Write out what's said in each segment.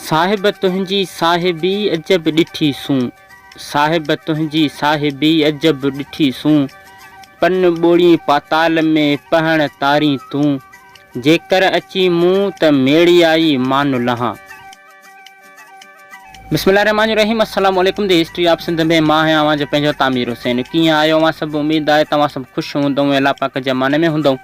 صاحب تنهنجي صاحبي عجب ڏٺي سون صاحب تنهنجي صاحبي عجب ڏٺي سون پن ٻوڙين پاتال ۾ پهڻ تارين تون جيڪر اچين مون ته ميڙيائي مان لهان. بسم الله الرحمٰن الرحيم السلام عليڪم دي هسٽري آف سنڌ ۾ مان آهيان اوهان جو پنهنجو تعمير حسين ڪيئن آهيو اوهان سڀ اميد آهي ته اوهان سڀ خوش هوندئون ۽ الله پاڪ جي امان ۾ هوندئون.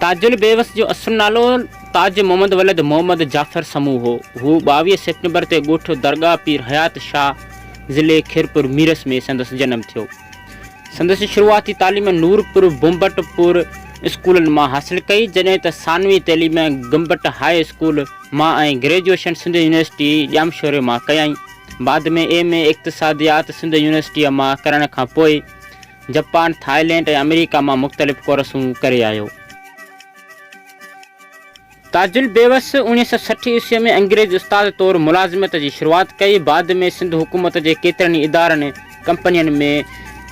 تاج البيوس جو اصل نالو تاج محمد ولد محمد جعفر سمون هو. هو ٻاويهه سيپٽمبر تي ڳوٺ درگاهه پير حيات شاهه، ضلعي خيرپور ميرس ۾ سندس جنم ٿيو. سندس شروعاتي تعليم نورپور بمبٽ پور اسڪولن مان حاصل ڪئي، جڏهن ته ثانوي تعليم گمبٽ هاء اسڪول مان ۽ گريجوئيشن سنڌ يونيورسٽي ڄامشوري مان ڪيائين. بعد ۾ ايم اي اقتصاديات سنڌ يونيورسٽيء مان ڪرڻ کان پوء جپان، ٿائلينڊ ۽ آمريڪا مان مختلف ڪورسون ڪري آيو. تاجل بيوس اوڻيهه سؤ سٺ عيسويء ۾ انگريزي استاد طور ملازمت جي شروعات ڪئي، بعد ۾ سنڌ حڪومت جي ڪيترن ئي ادارن ڪمپنين ۾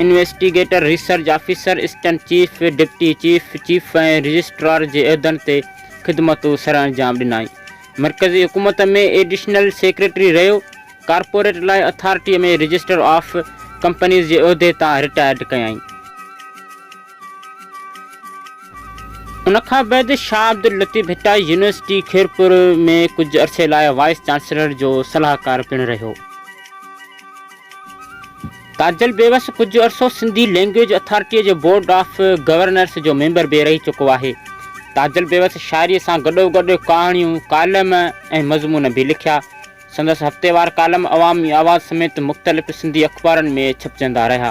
investigator, research officer, assistant chief, deputy chief, chief ۽ registrar جي عهدن تي خدمتون سرانجام ڏنائين. مرڪزي حڪومت ۾ ايڊيشنل سيڪريٽري رهيو. ڪارپوريٽ لا اٿارٽيء ۾ رجسٽر آف ڪمپنيز جي عهدي تان رٽائرڊ ڪيائين. ان کان بعد شاهه عبداللطيف ڀٽائي يونيورسٽي خيرپور ۾ ڪجهه عرصي لاء وائيس چانسلر جو صلاحڪار پڻ رهيو. تاجل بيوس ڪجهه عرصو سنڌي لينگويج اٿارٽيء جي بورڊ آف گورنرس جو ميمبر به رهي چڪو آهي. تاجل بيوس شاعريء سان گڏوگڏ ڪهاڻيون، ڪالم ۽ مضمون به لکيا. سندس هفتيوار ڪالم عوامي آواز سميت مختلف سنڌي اخبارن ۾ ڇپجندا رهيا.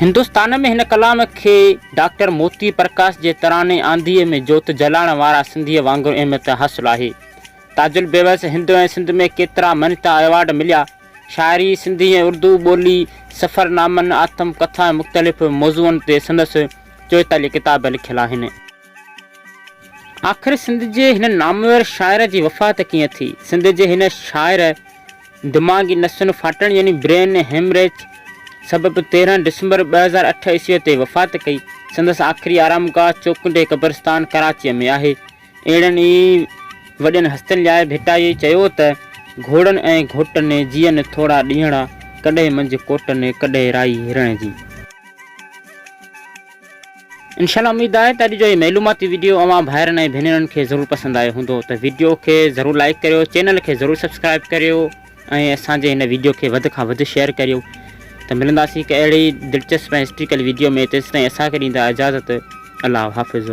هندستان ۾ هن ڪلام کي ڊاڪٽر موتي پرڪاش جي تراني آنڌيء ۾ جوت جلاڻ وارا سنڌيء وانگر اهميت حاصل آهي. تاج البيوس هندو ۽ سنڌ ۾ ڪيترا مڃتا ايوارڊ مليا. شاعري، سنڌي ۽ اردو ٻولي، سفر نامن، آتم ڪٿا ۽ مختلف موضوعن تي سندس چوئيتاليهه ڪتاب لکيل آهن. آخر سنڌ جي هن نامور شاعر جي وفات ڪيئن ٿي؟ سنڌ جي هن شاعر دماغي نسن ڦاٽڻ يعني برين هيمريج سبب تيرهن ڊسمبر ٻه هزار اٺ عيسويء تي وفات ڪئي. سندس آخري آرام گاهه چوڪنڊي قبرستان ڪراچيء ۾ آهي. اهڙن ئي وڏين هستين لاء ڀٽائيء چيو ته، گهوڙن ۽ گهوٽن جيئن ٿورا ڏينهڙا، ڪڏهن منجهه ڪوٽن، ڪڏهن رائي هرڻ جي. انشاء الله اميد آهي ته اڄ جو هي معلوماتي ويڊيو اوهان ڀائرن ۽ ڀينرن کي ضرور پسند آيو هوندو ته ويڊيو کي ضرور لائيڪ ڪريو چينل کي ضرور سبسڪرائيب ڪريو ۽ اسان جي هن ويڊيو کي وڌ کان وڌ شيئر ڪريو ته ملنداسين هڪ اهڙي دلچسپ ۽ هسٽريڪل ويڊيو ۾ تيسين اسان کي ڏيندا اجازت الله حافظ